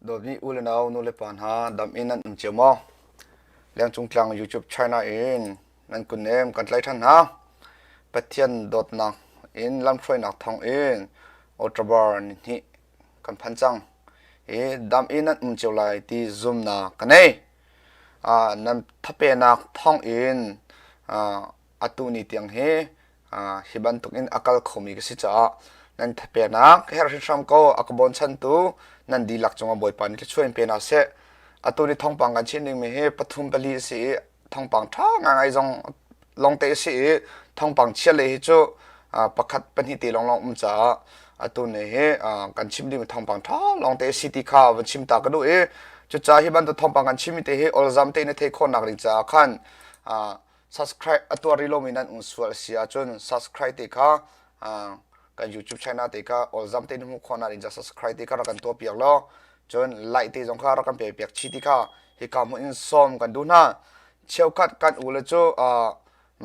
Dawtmi u le nau, nulepa hna dam in nan um cio maw? Lengcung Tlang YouTube China in nan kun nem kan tlai ṭhan hna. Pathian dawtnak in lamhruainak thawng in October ni hnih kan phan cang. Hi dam in nan um cio lai ti zumnak ka nei. Uh, nan thapenak thawng in uh, atu ni tiang hi hi bantuk in a kal khomi ka si caah nan thapenak ka herh hrimhram ko a ka bochantu nan dihlak cungah bawipa nih thluachuan pe hna seh atu ni thongpang kan chin dingmi hi pathum pali a si i thongpang ṭha ngai zong longte a si i thongpang chia lei hi cu pakhat pahnih te lawnglawng um caah atu ni hi kan chim dingmi thongpang ṭha longte a si ti kha van chim ta ka duh i cucaah hi bantuk thongpang kan chimmi te hi olzam te na thei khawnak ding caah khan subscribe a tuar ri lomi nan um sual si ahcun subscribe te kha kan youtube channel te kha all zam te hmu khona in subscribe te kha rak kan tuah piak lo cun like te zong kha rak kan pe piak chi ti kha hi ka mu in som kan du na cheukhat kan u le cu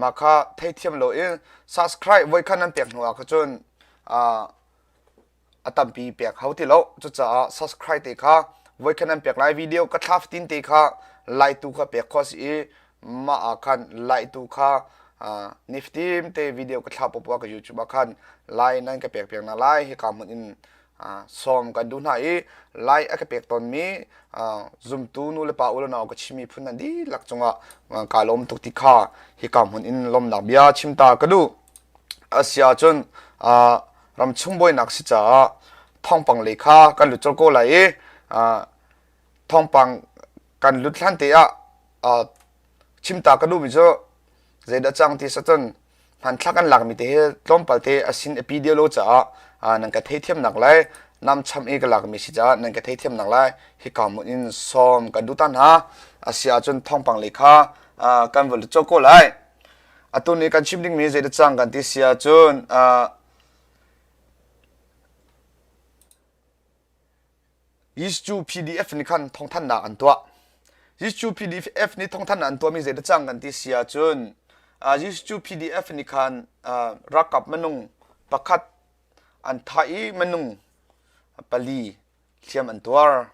ma kha thei thiam lo in subscribe voi khan nan pek hnu ah cun a tampi pek hau ti lo cucaah subscribe te kha voi khan an pek lai video ka thla fatin te kha like tu kha pek kho si i mah ah khan like tu kha niftim te video ka thla popo ka youtube ah khan like nan ka pek pek na lai hi ka mun in song kan du hna i lai a ka pek ton mi zumtu nu le pa u le nau ka chimi phun nan di lak chunga ka lom tuk ti kha hi ka mun in lom nak bia chimta ka du asia chun ramchung buainak si caah thawngpang lei kha kan lut colh ko lai i thawngpang kan lut hlan te ah chimta ka duhmi cu zeidah cang ti sacun hmanthlak an lakmi te hi tlawmpal te asin api dio lo caah nan ka theithiamnak lai nam cham i ka lakmi si caah nan ka theithiamnak lai hi ka mun in sawm kan duta hna asi ahcun thawngpang lei kha kan va lut colh ko lai atu nih kan chim dingmi zeidah cang kan ti si ahcun uh, Jesuh PDF nih khan thawngthannak an tuah Jesuh PDF nih thawngthannak an tuahmi zeidah cang kan ti si ahcun uh, Jesuh PDF nih khan uh, rakap manung pakhat an thah i manung pali hliam an tuar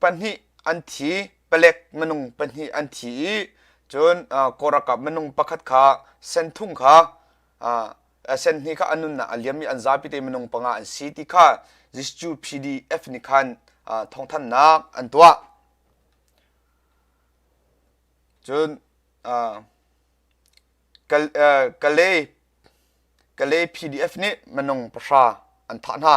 pahnih an thi palek minung pahnih an thi i cun kawlralkap minung pakhat kha sen thum kha sen hnih kha an nunnak a liam i an zapi te minung panga an si ti kha Zisu PDF nih khan thawngthanhnak an tuah cun Kalay PDF nih minung pahra an thah hna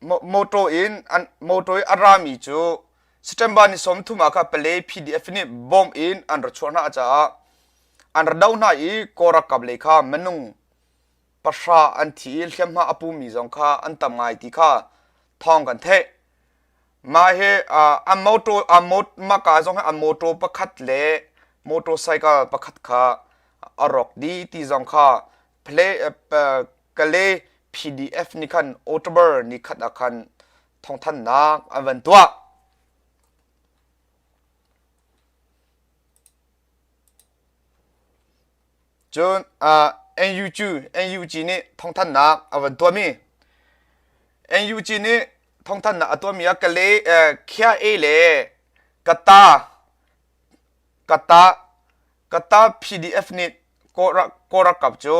motor in a rami cu September ni sawmthum ah kha Palay PDF nih bomb in an ra chuah hna caah an ra do hna i Kawlralkap lei kha minung pahra an thi i hliamhma a pumi zong kha an tam ngai ti kha thawng kan theih. Mah hi an motor an maka zong hi an motor pakhat le motorcycle pakhat kha a rawk dih ti zong kha Kale PDF nih khan October ni khat ah khan thawngthannak an van tuah. Cun uh, NUG NUG nih thawngthannak a van tuahmi NUG nih thawngthannak a tuahmi ah Kale eh, Khia E le Kata Kata Qatar PDF nih kawl ralkap cu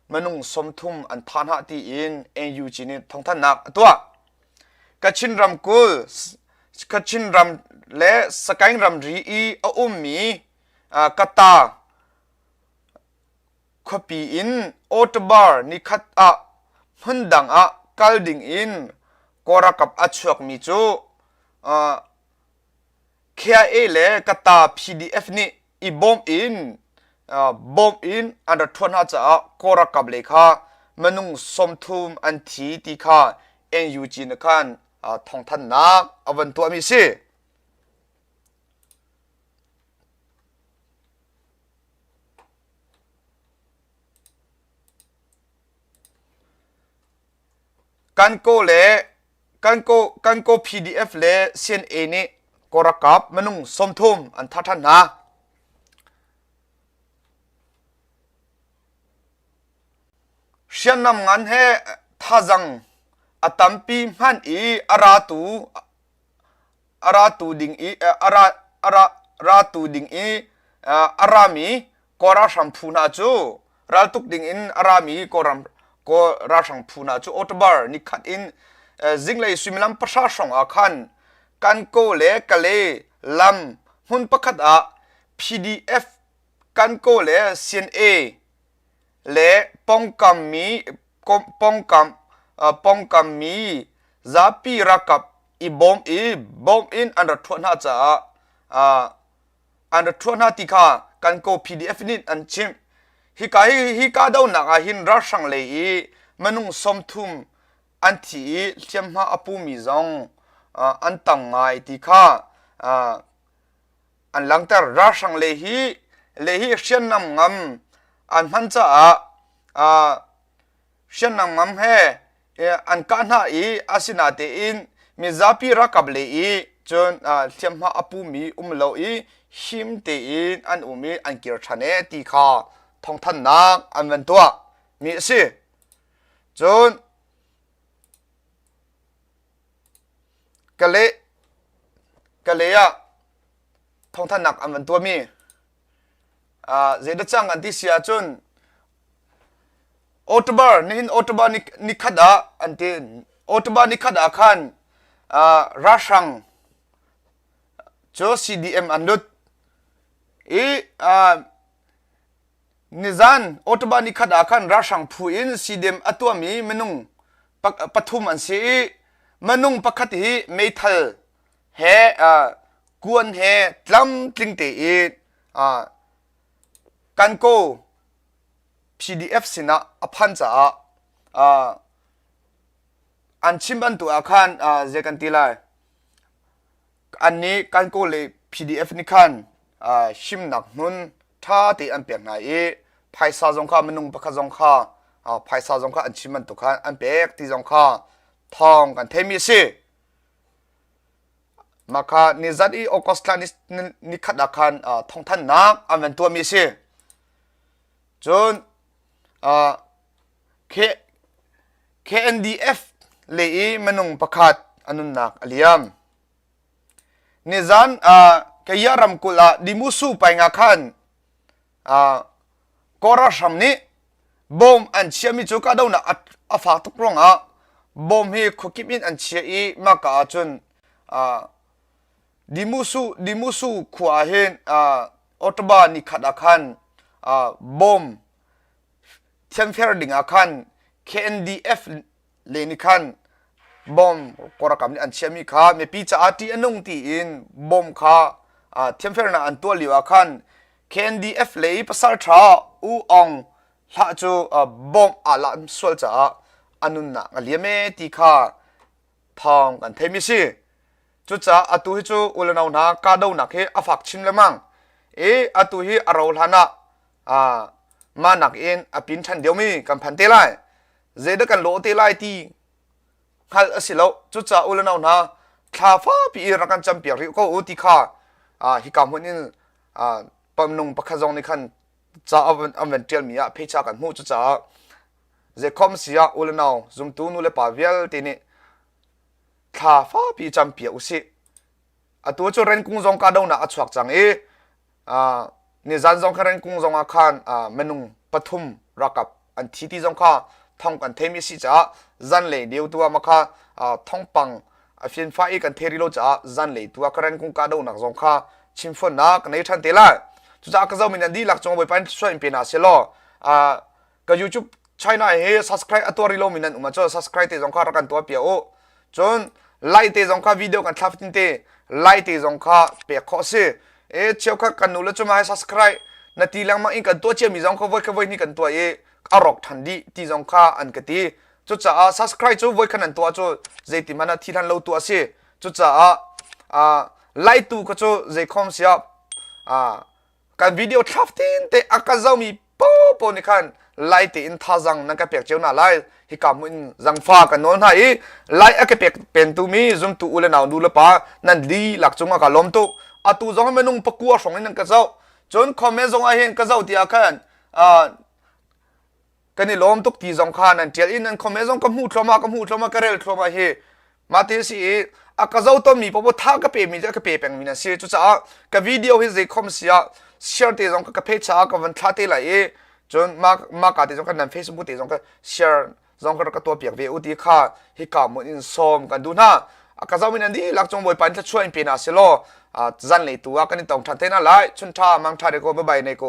minung sawmthum an thah hna tiin NUG nih thawngthanhnak a tuah. Kachin ramkulh Kachin ram le Sakaing ramri i a ummi Qatar khuapi in October nikhat ah hmun dang ah kal ding in kawl ralkap a chuakmi cu KIA le Kata PDF nih i bawm in bawm in an rat ṭhuan hna caah Kawl ralkap lei kha minung sawmthum an thi ti kha NUG nih khan thawngthanhnak a van tuahmi a si. Kan kaw PDF le CNA nih kawlralkap minung sawmthum an thah ṭhan hna. Hriamnam ngan he thazang a tampi hman i a ratu a ratu ding i a ratu ding i a rami kaw ralhrang phu hna cu raltuk ding in a rami kaw ralhrang phu hna cu October ni khat in zinglei suimilam pahra hrawng ah khan Kanko le Kale lam hmun pakhat ah PDF Kanko le CNA le pawngkammi zapi ralkap i bawm i bawm in an ra thuah hna caah an ra thuah hna ti kha Kankaw PDF nih an chimh. Hika hi hi kahdohnak ah hin ralhrang lei i minung sawmthum an thi i hliamhma a pumi zong an tam ngai ti kha an langhter ralhrang le hi le hi hriamnam ngam an hman caah hriamnam ngam he an kah hna i asinatein mizapi rakap le i cun hliamhma a pumi um lo i him tein an um i an kir ṭhan e ti kha thawngthannak an van tuah mi a si cun Ka le ah thawngthanhnak an van tuahmi zeidah cang an ti si ahcun October nihin October ni khat ah an ti. October ni khat ah khan ralhrang cu CDM an lut i Nizan October ni khat ah khan ralhrang phu in Sidem a tuahmi minung pathum an si i minung pakhat hi meithal he kuan he tlamtling te i Kanko PDF sinah a phan caah an chim bantuk ah khan zei kan ti lai an nih Kankaw le PDF nih khan himnak hmun ṭha te an pek hna i phaisa zong kha minung pakhat zong kha phaisa zong kha an chim bantuk khan an pek ti zong kha thawng kan theimi a si. Maka nizat i August thla ni khat ah khan thawngthannak an van tuahmi a si. Cun KNDF le i minung pakhat a nunnak a liam. Nizan uh, kaya ramkulh ah Dimusu painga khan uh, Kora hram nih bom an chiami cu kahdohnak a fak tuk ruang ah bom hi khuakip in an chia i maka ah cun uh, Dimusu Dimusu khua hin uh, Ottawa ni khat ah khan uh, bom thianfer dingah khan KNDF le nih khan bomb korakam nih an chiahmi kha mipi caah ṭih a nung tiin bomb kha thianfernak an tuah lio ah khan KNDF le i pasalṭha U Aung hlah cu bomb aa lam sual caah a nunnak a liam e ti kha thawng kan theimi si cucaah atu hi cu ulenau hna kahdohnak hi a fak chin lemang i atu hi a ro hlan ah ah mah nakin a pin ṭhan diomi kan phan te lai zeidah kan lawh te lai ti hngalh a si lo cucaah u le nau hna thla fapi i rak kan campiak rih ko u ti kha hi ka hmun in pamnung pakhat zong nih khan ca an van ṭialmi ah phecha kan hmuh cucaah zekhom si ah u le nau zumtu nu le pa vialte nih thla fapi campiak u sih atu cu renkung zong ka donak a chuak cang i nizan zong kha rengkung zong ah khan minung pathum rakap an thi ti zong kha thong kan theimi si caah zanlei deu tu ah makha thongpang a fian fa i kan theri lo caah zanlei tu ah ka rengkung ka do nak zong kha chim phon na ka nei than te lai cucaah ka zo min an di lak chung bawi pan soin pe na se law ka youtube china he subscribe atuari lo mi nan um cho subscribe te zong kha rak kan tuah pia o cun like te zong kha video kan thlap tin te like te zong kha pek kho si e cheu kha kan nu le chuma subscribe na ti lang ma in kan tuwa chia mi zong kha voi kha voi ni kan tuwa e arok than di ti zong kha an ka ti cu caah subscribe cu voi khan an tuwa cu zei ti mana thi than lo tu asi cu caah a lai tu kha cu zei khom sia a kan video thlaf tin te a ka zomi popo ni khan lai te in thazang nan ka pek ceu na lai hi kam in zangfa kan nol na i lai a ke pek pen tu mi zumtu u le nau nu le pa nan li lak chunga ka lom tu atu zong menung pakua song in ka zo chun comment zong a hen ka zo tia khan kan i lawm tuk ti zong kha nan tial i nan comment zong ka hmuh thluamah ka hmuh thluamah ka rel thluamah hi mate si i a ka zo ton mi popo tha ka pe mi le ka pe peng mi na si cucaah ka video hi zei khom sia share te zong ka page cha ka van thla te lai i cun ma ma ka te zong kan nan facebook te zong ka share zong ka ka to piak ve u ti kha hi ka mun in som kan du na a ka zo min andi lak chong boi pan thla chuain pe na selo zan le tu a kan in tong than te na lai chun tha mang tha de ko ba bai ne ko